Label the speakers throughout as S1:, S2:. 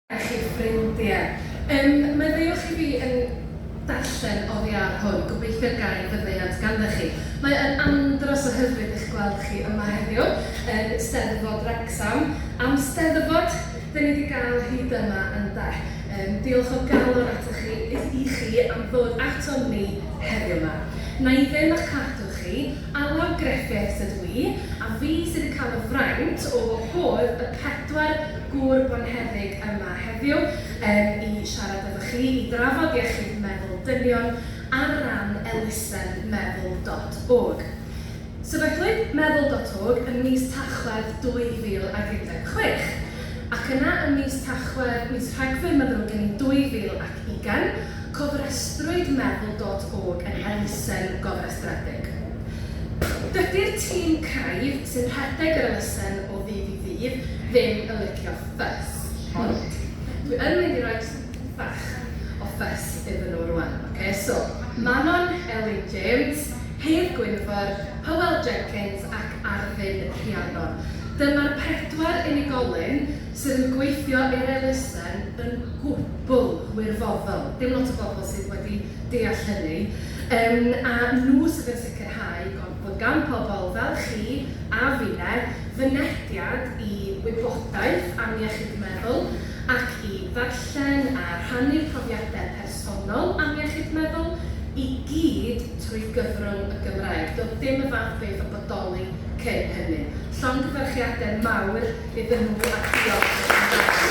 S1: a chi ffrindie. Yym, meddyliwch i fi yn darllen oddi ar hwn, gobeithio gai faddeuant ganddo chi. Mae yn andros o hyfryd eich gweld chi yma heddiw yn Steddfod Wrecsam. Am Steddfod 'da ni 'di gael hyd yma ynde? Yym, diolch o galon atoch chi, i chi am ddod atom ni heddiw 'ma. Wna i ddim a'ch cadw chi, Alun Griffiths ydw i, a fi sydd yn cael y fraint o wahodd y pedwar gŵr bonheddig yma heddiw yym i siarad efo chi, i drafod iechyd meddwl dynion ar ran elusen Meddwl dot org. Sefydlwyd Meddwl dot org ym mis Tachwedd 2016, ac yna ym mis Tachwedd, mis Rhagfyr ma'n ddrwg gen i, 2017, Ugain, cofrestrwyd meddwl dot org yn elusen gofrestredig. Dydy'r tîm craidd sy'n rhedeg yr elusen o ddydd i ddydd ddim yn licio ffys, ond dwi yn mynd i roi tipyn bach o ffys iddyn nhw rwan, ocê? So, Manon Elin James, Hedd Gwynfor, Hywel Jenkins ac Arddin Rhiannon. Dyma'r pedwar unigolyn sydd yn gweithio i'r elusen yn gwbl wirfoddol. Dim lot o bobl sydd wedi deall hynny. Yym, a nhw sydd yn sicrhau bod gan pobl fel chi a finne fynediad i wybodaeth am iechyd meddwl ac i ddarllen a rhannu profiadau personol am iechyd meddwl, i gyd trwy gyfrwng y Gymraeg. Doedd dim y fath beth yn bodoli cyn hynny. Llongyfarchiadau mawr iddyn nhw a diolch i'r Cymraeg.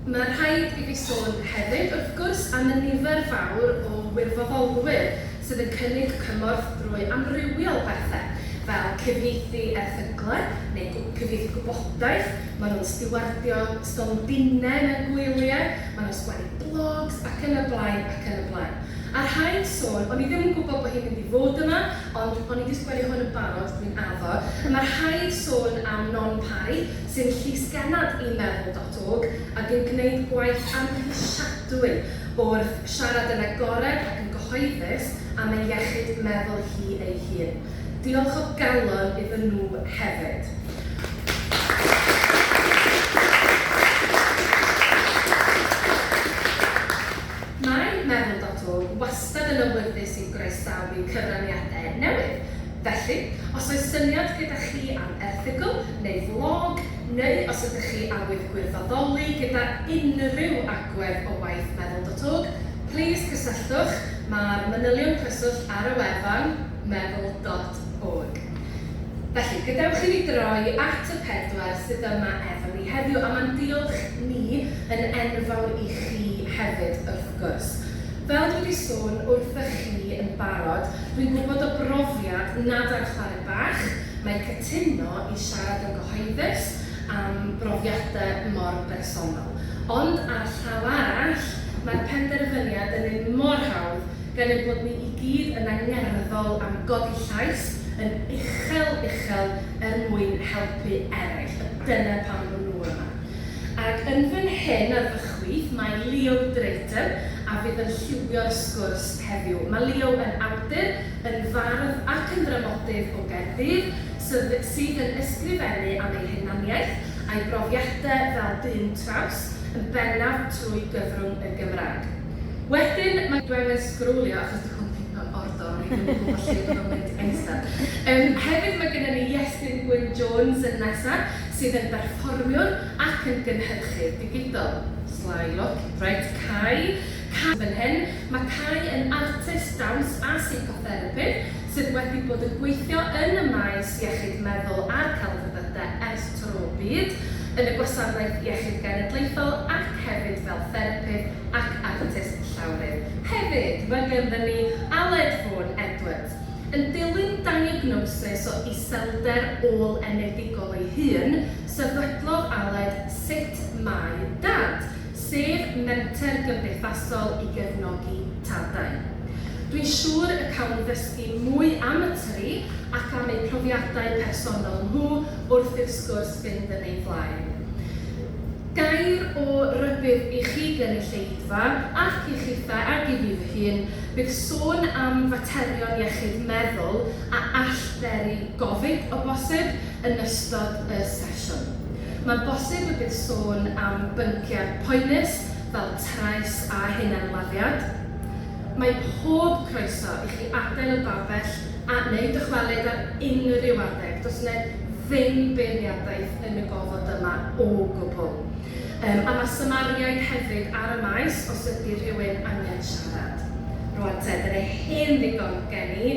S1: Mae rhaid i fi sôn hefyd, wrth gwrs, am y nifer fawr o wirfoddolwyr sydd yn cynnig cymorth drwy amrywiol bethe, fel cyfieithu erthyglau neu cyfieithu gwybodaeth, maen nhw'n stiwardio stondinau mewn gwyliau, maen nhw'n sgwennu blogs ac yn y blaen ac yn y blaen. A rhaid sôn, o'n i ddim yn gwybod bod hi'n mynd i fod yma, ond o'n i 'di sgwennu hwn yn barod, dwi'n addo. Ma' rhaid sôn am Non Parry, sy'n llys genad i Meddwl dot org, ag yn gwneud gwaith amhrisiadwy wrth siarad yn agored ac yn gyhoeddus am ei iechyd meddwl hi ei hun. Diolch o galon iddyn nhw hefyd. Mae Meddwl Doctor wastad yn awyddus i groesawu cyfraniadau newydd, felly os oes syniad gyda chi am erthygl neu flog, neu os ydych chi awydd gwirfoddoli gyda unrhyw agwedd o waith Meddwl Doctor, plis cysylltwch, mae'r manylion cyswllt ar y wefan. meddwl dot org. Felly, gadewch i ni droi at y pedwar sydd yma efo ni heddiw, a mae'n diolch ni yn enfawr i chi hefyd, wrth gwrs. Fel dwi wedi sôn wrthych chi yn barod, dwi'n gwybod o brofiad nad ar chwarae bach mae cytuno i siarad yn gyhoeddus am brofiadau mor bersonol. Ond ar y llaw arall, mae'r penderfyniad yn un mor hawdd gan ein bod ni i gyd yn angerddol am godi llais yn uchel uchel er mwyn helpu eraill, a dyna pam bod nhw yma. Ac yn fan hyn ar fy chwith mae Leo Drayton a fydd yn lliwio'r sgwrs heddiw. Mae Leo yn awdur, yn fardd ac yn ddramodydd o Gaerdydd sydd sydd yn ysgrifennu am ei hunaniaeth a'i brofiadau fel dyn traws, yn bennaf trwy gyfrwng y Gymraeg. Wedyn mae gwefr sgrolio achos dy hwn ddim mewn ordor o'n i ddim yn gwybod lle bod o'n mynd nesa. Yym hefyd mae gynnon ni Iestyn Gwyn Jones yn nesa sydd yn berfformiwr ac yn gynhyrchydd digidol. Sly look. Reit, Cai. Cai sydd fan hyn. Mae Cai yn artist dawns a seicotherapydd. sydd wedi bod yn gweithio yn y maes iechyd meddwl a'r celfyddydau ers tro byd, yn y Gwasanaeth Iechyd Genedlaethol ac hefyd fel therapydd ac artist llawrydd. Hefyd, mae ganddo ni Aled Vaughan Edwards, yn dilyn diagnosis o iselder ôl-enedigol ei hun, sefydlodd Aled Sut Mae Dad? sef menter gymdeithasol i gefnogi tadau. Dwi'n siŵr y cawn ddysgu mwy am y tri ac am eu profiadau personol nhw wrth i'r sgwrs fynd yn ei flaen. Gair o rybudd i chi gynulleidfa ac i chithau ac i fi fy hun, bydd sôn am faterion iechyd meddwl a all beri gofid o bosib yn ystod y sesiwn. Mae'n bosib y bydd sôn am bynciau poenus fel trais a hunanladdiad. Mae pob croeso i chi adael y babell a neu dychwelyd ar unrhyw adeg, does yna ddim beirniadaeth yn y gofod yma o gwbl. Yym a mae symariaid hefyd ar y maes os ydy rhywun angen siarad. Rŵan te, dyna hen ddigon gen i.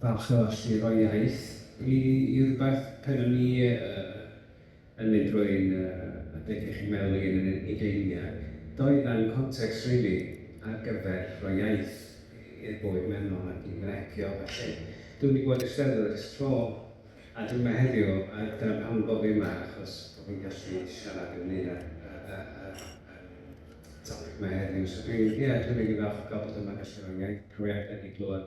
S2: Parch a llyf a iaith i i rywbeth pan o'n i yn mynd drwy'n adeg iechyd meddwl i yn yn ugeiniau. Doedd na'm context rili ar gyfer rhoi iaith i'r bywyd mewnol ac i frecio a ballu. Dwi'm di bod i'r Steddfod ers tro a dwi'm yma heddiw a dyna pam y bo fi yma achos bo fi'n gallu siarad ynglyn â'r topic ma heddiw so dwi'n ie dwi'n rili falch o ga'l bod yma gallu roi iaith profiadau fi glwad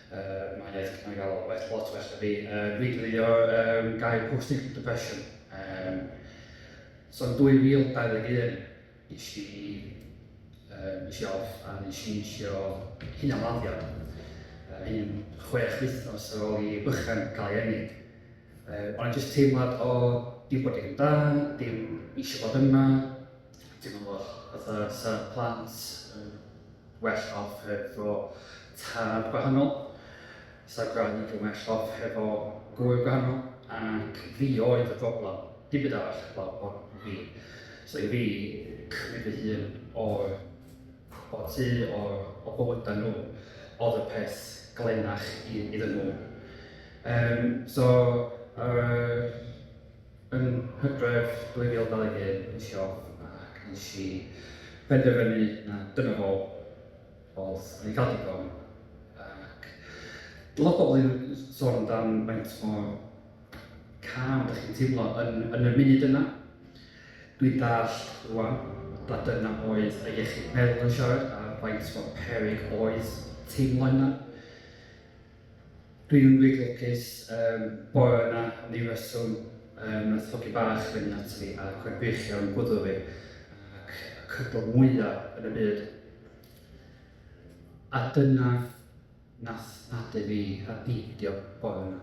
S3: Mae iaith Cymraeg a lot well, lot well na fi. Uh, dwi'n defnyddio um, gair post-natal depression. Um, so yn 2021, nes i, um, nes i off a nes i eisiau hyn am laddio. Uh, un chwech wythnos ar ôl i bychan cael ei ennig. Uh, Ond jyst teimlad o dim bod dim dan, dim eisiau bod yma, Teimlodd fatha 'sa plant yn well off hefo tad gwahanol, 'sa gwraig yn well off hefo gwraig gwahanol, ac fi oedd y broblem, dim byd arall heblaw hwn i fi. So i fi, cymryd fy hun o'r o'r tŷ, o'r o bywydau nhw, oedd y peth glennach i iddyn nhw. Yym so yr Yn Hydref 2021 es i off ac nes i benderfynu na dyna fo, oedd o'n i'n cael digon ac lot o bobl yn sôn amdan faint mor calm dych chi'n teimlo yn, yn y munud yna. Dwi'n dallt rwan na dyna oedd y iechyd meddwl yn siarad a faint mor peryg oedd teimlo hynna. Dwi yn wir lwcus, yym, bore yna, am ryw reswm, yym, nath hogyn bach fynd ata fi a cweit gwych iawn gwddw fi, ac y cydl mwya yn y byd. A dyna nath nadu fi ar beidio bore yna.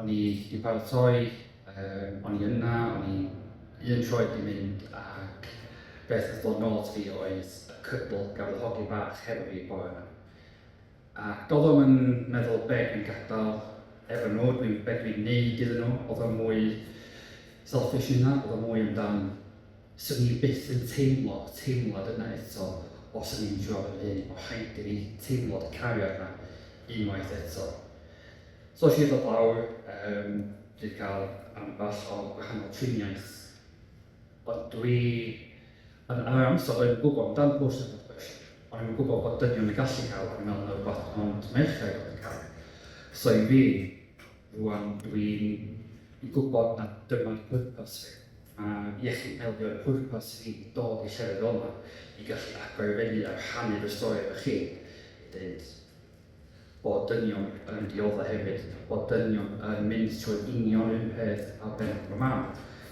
S3: O'n i 'di paratoi, yym, o'n i yna, o'n i un troed 'di mynd, ac beth nath dod nôl ata fi oedd y cydl gafodd hogyn bach hefo fi bore yna. Ac oeddom yn meddwl be dwi'n gadael efo nhw, dwi'n, be dwi'n neud iddyn nhw, oedd o'n mwy selfish na hynna, oedd o'n mwy amdan, swn i byth yn teimlo y teimlad yna eto os o'n i'n trwad yn hŷn, oedd rhaid i fi teimlo y cariad yna unwaith eto. So es i ddod lawr, um, dwi wedi cael ambell o gwahanol triniaeth, ond dwi Yn yr amser roedd yn gwybod amdan bws yn Ardbysll, o'n i'm yn gwybod bod dynion yn gallu cael, o'n i'n meddwl na rywbeth ond merched oedd yn cael. So i fi, rwan dwi'n yn gwybod na dyma'r pwrpas fi, a iechyd meddwl yw'r pwrpas i fi i dod i llefydd fel 'ma, i gallu agor i fyny a rhannu fy stori efo chi, i ddeud, bod dynion yn diodde' hefyd, bod dynion yn mynd trwy'r union un peth â be' ma' mam,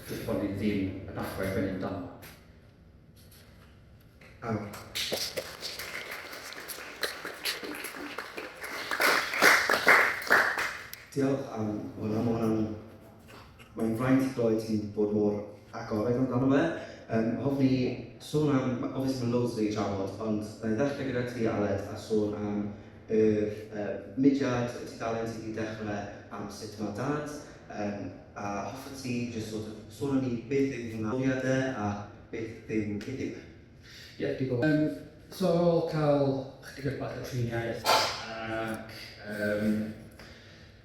S3: jyst bod ni ddim yn athro i fyny amdano fo.
S4: Diolch am hwnna, ma' hwnna'n mae'n fraint i glywed ti'n bod mor agored amdano fe. Yym, hoffwn i sôn am... ma'... obviously ma' loads 'da ni trafod, ond wna i ddechrau gyda ti Aled a sôn am yr yy mudiad, y tudalen ti 'di dechrau am sut mae Dad, yym, a hoffet ti jyst sort of sôn am ni beth yw fy mhrofiad e a beth yw cyd-ddew e? Ie, digon.
S3: Yym, so ar ôl cael ychydig bach o triniaeth ac yym,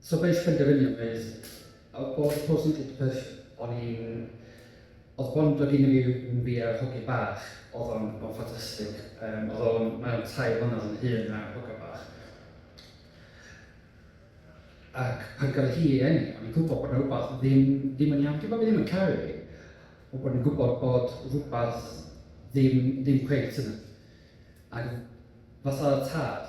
S3: So beis penderfyniad neis. Odd bod post yn deud peth o'n i'n... Odd bond do gin fi yn fi a'r hogyn bach, odd o'n odd o'n ffantastig. Yym odd o'n... Mae o'n tair mlynedd yn hŷn na'r hogan bach. Ac pan gafodd hi ei eni o'n i'n gwbod bod 'na rwbath ddim ddim yn iawn. Dim bo' fi ddim yn caru hi, ond bo' ni'n gwbod bod rwbath ddim ddim cweit yn... Ag fatha tad,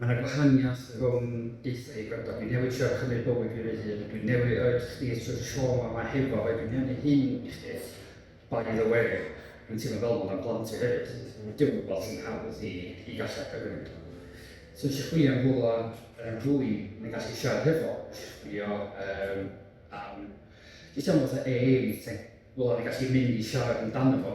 S3: Mae yna gwahaniaeth rhwng deutha i gwrando, dwi'n newydd trio chymryd bywyd fi fy hun, dwi'n newydd oed chdi a trwy'r trauma ma hefo fo, dwi'n newydd hyn i chdi. By the way, dwi'n teimlo fel hwn am blant fi hefyd, dim yn gwybod sy'n hawdd i i gallu argyfwng iddo fo. So nes i chwilio am rhywle yym rhywun o'n i'n gallu siarad hefo, nes i chwilio yym am jyst teimlo fatha AA meeting, rhywle o'n i'n gallu mynd i siarad amdano fo.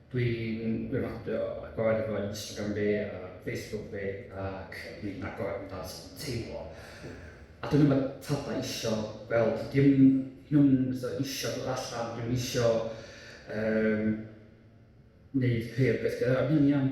S3: Dwi'n recordio a gwario fy Instagram fi a Facebook fi ac dwi'n agor yn dat teimlo. A dwi'n yma tada isio gweld, dim nhw'n isio dod allan, dwi'n isio um, neud ceir beth gyda fi'n iawn.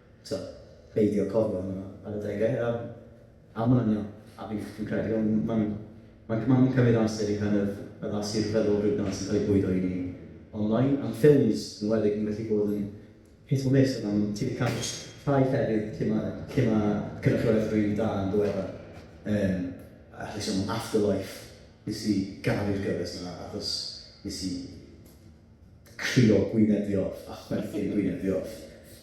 S5: Tibod, peidio cofio hwnna ar adegau a a ma'n iawn. A fi fi'n credu ond ma'n ma'n ma'n cymryd amser i kind of addasu'r feddylfryd 'na sy'n cael ei bwydo i ni online. Am ffilms yn enwedig ma'n gallu bod yn hit or miss o ran ti 'di cael rhai llefydd lle ma' lle ma' cynrychiolaeth rili da yn ddiweddar yym allai sôn am Afterlife nes i garu'r gyfres 'na achos nes i crio gwyneb fi off a chwerthin gwyneb fi off.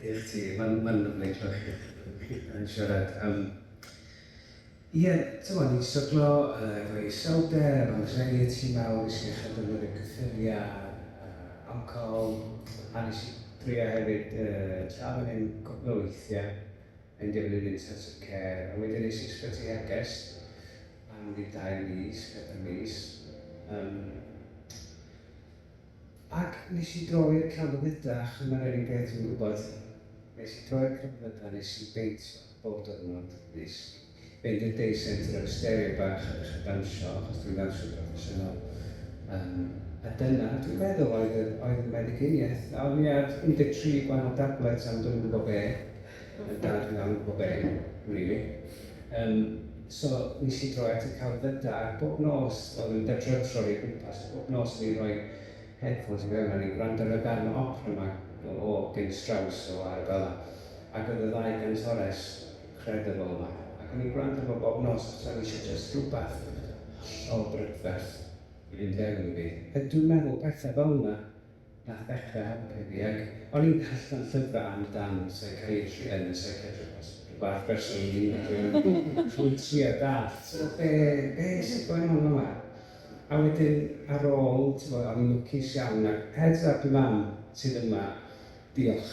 S4: I
S2: chdi, mae'n mae'n lyfli clywed chi chi yn siarad. Yym ie, timod, ni'n stryglo efo iselder, anxiety mawr, wnes i ddechrau defnyddio cyffuriau a alcohol a wnes i drio hefyd tra fan hyn cwpl o weithiau yn defnydd intensive care a wedyn es i ysbyty hergest am ryw dair mis, pedair mis. Yym. Ac nes i droi'r celfydda a chyma'r er enghraifft dwi'n gwybod nes i droi'r celfydda nes i beintio bob diwrnod nes i fynd i'r day centre efo stereo bach a ddechrau dansio achos dwi'n ddansio proffesiynol yym a dyna dwi'n feddwl oedd yr oedd y meddyginiaeth a o'n i ar 13 gwahanol dablets am dwi'm yn gwybod be Oedd dad yn iawn bob hyn, rili. Yym, so nes i droi at y celfyddyd da, ac bob nos oedd yn dydro troi o gwmpas, bob nos o'n i'n rhoi headphones i fewn a o'n i'n gwrando ar y darn o opera 'ma o o gyn Strauss o Arabella, ac oedd y ddau gantores credible 'ma, ac o'n i'n gwrando fo bob nos achos o'n i isio jyst rhywbeth hollol brydferth i fynd fewn i fi. Dwi'n meddwl pethau fel 'na Nath Becca helpu fi ac o'n i'n darllen llyfrau am dan seicaetri yn y Psychiatrist Rhywbeth person yn mynd i drio nhw trwy trio dallt t'mod be be sy'n going on yma a wedyn ar ôl t'mod o'n i'n lwcus iawn ac heads up i mam sydd yma diolch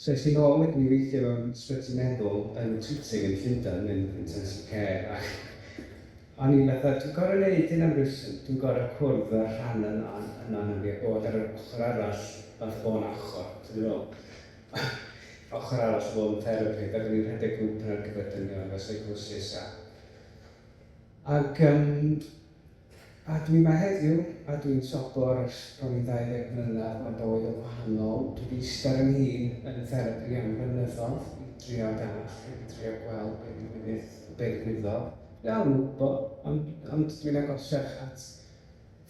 S2: So es i nôl, ac o'n i'n gweithio mewn sbyty meddwl yn Tooting yn Llundain, yn intensive care, ac o'n i'n fatha, dwi'n gorau neud hyn am reswm, dwi'n gorau cwrdd â'r rhan yna yna ohona fi a bod ar yr ochr arall, fatha bo' na ochr, ti'n gwbod be' dwi feddwl? Ochr arall o fod yn therapydd, ac o'n i'n rhedeg grŵp yna ar gyfer dynion efo seicosis a ac yym A dwi 'ma heddiw, a dwi'n sobor ers bron i ddauddeg mlynedd, mae bywyd yn wahanol, dwi 'di ista ar 'y nghîn yn y therapi am flynyddodd i drio dallt ac i drio gweld be' ddigwyddith, be' ddigwyddodd, dal 'im yn gwbo, ond ond dwi'n agosach at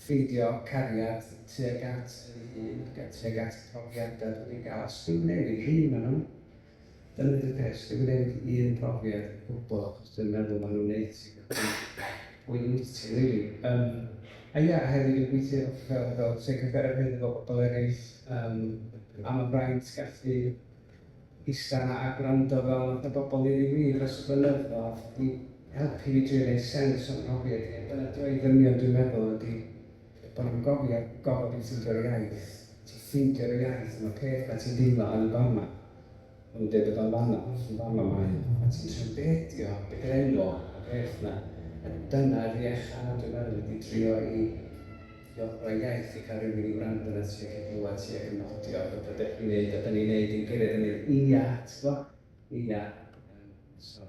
S2: ffeindio cariad tuag at fy hun, tuag at y profiada dwi 'di ga'l, os dwi'n newid un o nhw. Dyna di'r peth, dyw e ddim un profiad o gwbl achos dwi'n meddwl maen nhw'n neud ti gallu bwyty rili. Yym a ie, a hefyd dwi'n gweithio fel fel psychotherapydd efo pobl eraill yym a mae'n fraint gallu ista 'na a gwrando fel math o bobl i ni wir dros y blynyddoedd 'di helpu fi drio neud sens o'n mhrofiad i a dyna dwy ddynion dwi'n meddwl ydi Bod nhw'n gofio gorfod i ti ffeindio'r iaith. Ti'n ffeindio dy iaith am y peth 'na ti'n deimlo yn y fan 'na. O'n nhw'n deud bod o'n fan 'na, hollti fan 'ma mae o. A ti'n trio bedio, bedrenwo y peth 'na. A dyna fi a Chad dwi'n meddwl ydi trio i trio rhoi iaith i cael rhywun i wrando arnat ti ac i glywed ti ac yn nodio bod be dach chi'n neud a 'dan ni'n neud yn gyrraedd yn mynd ia, ti gwbo? Ia. Yym so.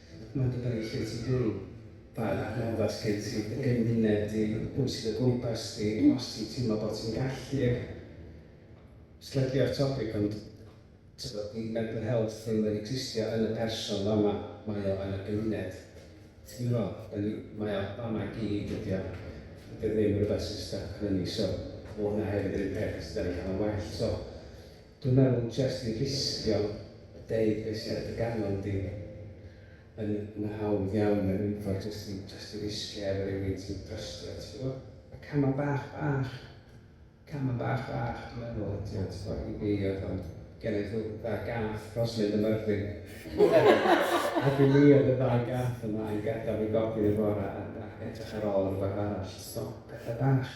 S2: Mae dy byrru lle ti byw, pa adnoddau sy' gen ti, dy gymuned di, pwy sydd o gwmpas di, os ti'n teimlo bod ti'n gallu ac... Slightly off topic ond tibod, 'di mental health ddim yn existio yn y person fama, mae o yn y gymuned. Ti'n gwybod? Dan ni... mae o fama i gyd dydi o? Dydi o ddim rywbeth sy'n styc arnon ni so, ma' hwnna hefyd yr un peth os ydan ni'n cael o'n well so. Dwi'n meddwl jest i risgio a deud be sy ar dy ganol di yn yn hawdd iawn er iddo jest i jest i risgio efo rywun ti'n trystio ti gwbo? Y cama bach bach, cama bach bach dwi'n meddwl ydi o ti gwbo? I fi oedd o'n genai ddw- dda gath dros mynd ym Myrddin ac i mi oedd y ddau gath yma yn gadal fi gofyn y bora a a edrych ar ôl rwbath arall ti gwbo? Petha bach.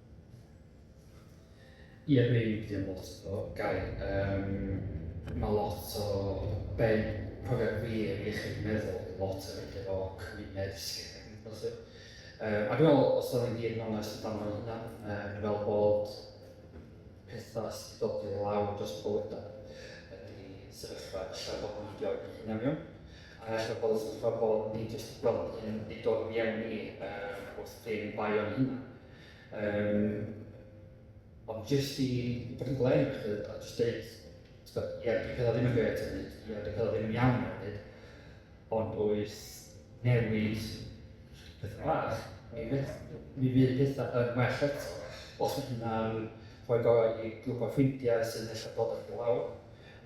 S3: Ie dwi wedi byw yn Portiwgal, Gaer. Yym ma' lot o be' profiad gwir iechyd meddwl yw lot o weithie efo cymuned dysgwyr ac yn y blaen 'lly. Yym a dwi me'wl os o'n i'n wir yn onest amdano fy hunan yym dwi me'wl bod petha sy' 'di dod i lawr dros y bywyda ydi sefyllfa ella bod ni 'di ofn ein hunan iawn a ella bod y sefyllfa bod ni jyst fel yn 'di dod i fiewn i yym wrth ddim bai o'n hunan. Um, ond jyst i fod yn glem, a jyst dweud, ie, dwi'n cael ddim yn gret yn hyd, ie, dwi'n cael ddim yn iawn yn hyd, ond oes newid pethau bach, mi, mi fydd pethau yn well eto. Os mae hynna'n rhoi go i grwp o ffrindiau sy'n eich bod eich lawr,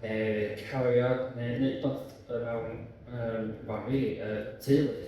S3: neu cario, neu wneud bod mewn um, fan fi, uh, teulu.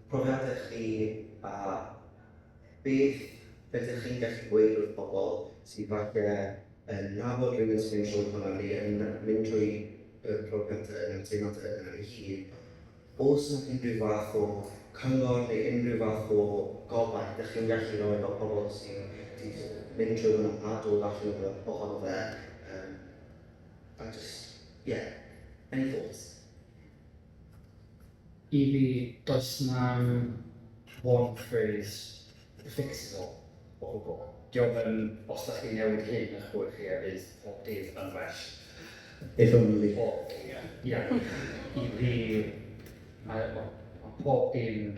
S4: Profiadau chi a beth rydych chi'n gallu gweud wrth bobl sydd falle yn nabod rhywun sy'n mynd trwy hwnna neu yn mynd trwy y profiadau neu'r teimladau yna ei hun. Oes yna unrhyw fath o cyngor neu unrhyw fath o gobaith dych chi'n gallu rhoi fel pobl sydd 'di mynd trwy hwnna a dod allan o fe, ohono fe yym a jyst ie. Any thoughts?
S3: I fi, does 'na'm one phrase that fixes it all o gwbl. Dio ddim, os dach chi'n newid hyn ych bywyd chi a bydd pob dydd yn well. If
S5: only. Pob dydd. Ie.
S3: I fi, mae, wel, mae pob dim...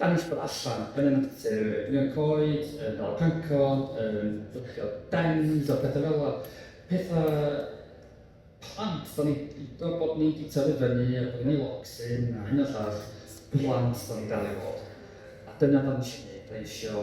S3: Dangos bod allan yn y natur, yn y coed, yn dal cyncod, yn fflcio dens a pethau fel 'na. Pethau plant, dan ni'n gwybod bod ni 'di tyfu fyny a bod ni efo locsyn a hyn a llall, plant dan ni'n dal i fod. A dyna be dan ni isio wneud, dan ni isio...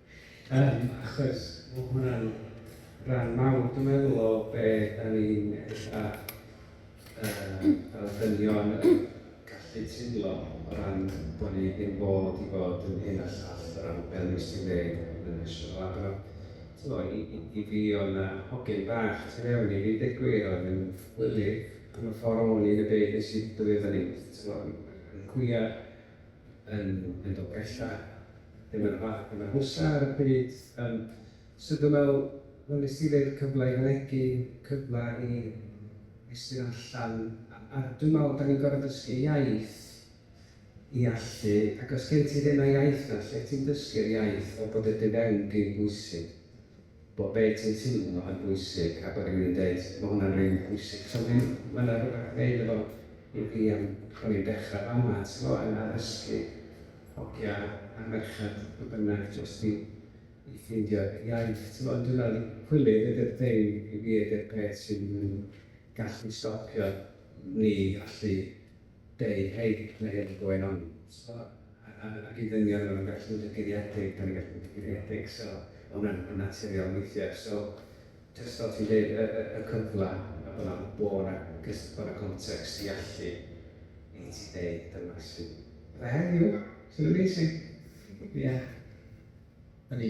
S2: Yym, achos ma' hwnna'n ran mawr, dwi'n meddwl, o be dan ni'n ella yy fel dynion yn gallu teimlo o ran bod ni ddim fod i fod yn hyn a llall o ran be wnes i ddeud yn y National Lab yna. Tibod, i i i fi oedd yna hogyn bach tu fewn i fi, deud gwir, oedd yn wyliv am y ffordd o'n i yn y byd wnes i dyfu fyny, tibod, yn yn cwiar. yn mynd o bellach. Dyma'r fath dim ar hwsa ar y pryd. Yym so dwi'n meddwl wel nes ti ddeud cyfle i fynegi, cyfle i estyn allan a a dwi'n meddwl dan ni'n gorfod dysgu iaith i allu ac os gen ti ddim y iaith na lle ti'n dysgu'r iaith fel bod y dy fewn di'n bwysig. Bo be ti'n teimlo yn bwysig a bo rywun yn deud ma hwnna'n rili pwysig so mae'n ma na rwbath neud efo i fi am bo ni'n dechra fama t'mo yn addysgu hogia a merched pwy bynnag jyst i i ffindio iaith t'mo ond dwi me'l i hwylydd ydi'r thing i fi ydi'r peth sy'n yn gallu stopio ni allu They hate playing going on so ac i ddynion ma' nhw'n gallu bod yn guriedig, dan ni'n gallu bod yn guriedig so ma' hwnna'n yn naturiol weithiau so jyst fel ti'n deud y y y cyfla a bod na bod na cys- bod na context i allu i ti ddeud dyma sy'n Beth heddiw? Sy'n amazing. Ie. O'n i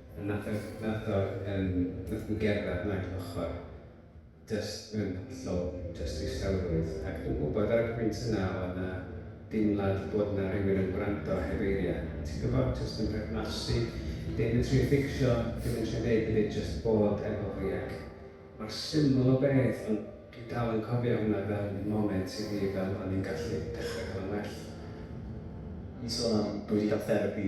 S2: Nath o nath o yym nath nhw gerdded nag ochr jyst mewn hollol jyst distawrwydd ac dwi'n gwybod ar y pwynt yna oedd na deimlad bod na rywun yn gwrando heb eiriau ti'n gwybod jyst yn perthnasu dim yn trio fficsio dim yn trio neud hefyd jyst bod efo fi ac mor syml o beth ond dwi dal yn cofio hwnna fel moment i fi fel o'n i'n gallu dechre cael yn well. Ni'n
S5: sôn am dwi wedi cael therapi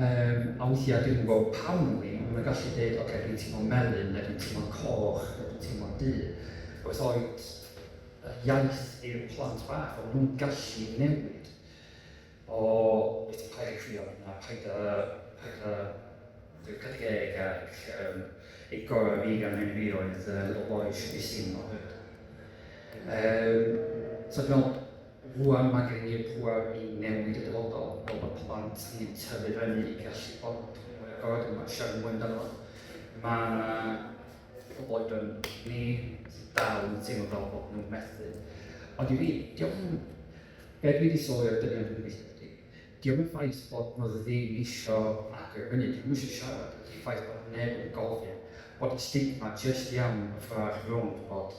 S3: Yym, a weithiau dwi'm yn gwybod pam wn i, ond maen nhw'n gallu deud, ocê, dwi'n teimlo'n melyn, neu dwi'n teimlo'n coch, neu dwi'n teimlo'n du. Wrth oed yr iaith i'r plant bach, ond maen nhw'n gallu newid. O, wyt ti'n poeni crio? Na, paid â, paid â, dwi'n 40 ac um, ei gorau fi gan hyn fi oedd uh, little boy should be seen not heard. Um, so dwi'n meddwl, Rŵan mae gennym ni'r pŵer i newid y dyfodol, fel bod plant hynny'n tyfu fyny i gallu bod yn fwy agored, yn gallu siarad mwy amdano fo. Mae yna pobl oedran ni sydd dal yn teimlo fel bod nhw'n methu. Ond i fi, diolch yn... Be dwi wedi sylwi o'r dynion dwi'n gweithio gyda, diolch yn ffaith bod nhw ddim isio agor i fyny, dyn nhw eisiau siarad, ydy'r ffaith bod neb yn gofyn, bod y stigma jyst iawn yn ffordd arall rownd bod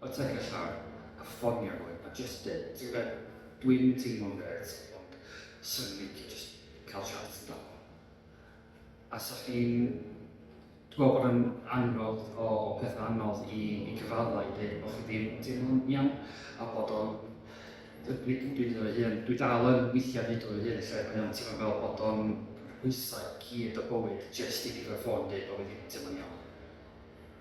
S3: O ti'n cael llaw a ffonio nhw a jyst deud, ti'n gwybod, dwi'm teimlo'n grêt ond 'swn i'n licio jyst cael chat amdano. A 'sa chdi'n, dwi'n gweld bod yn annog o pethau anodd i, i cyfaddau i ddeud bod chi ddim yn teimlo'n iawn a bod o'n nid yn byd o'i hun. Dwi dal yn weithiau nid o'i hun lle mae o'n teimlo fel bod o'n rhwysau i gyd o bywyd jyst i pigo'r ffôn deud bod fi ddim yn teimlo'n iawn.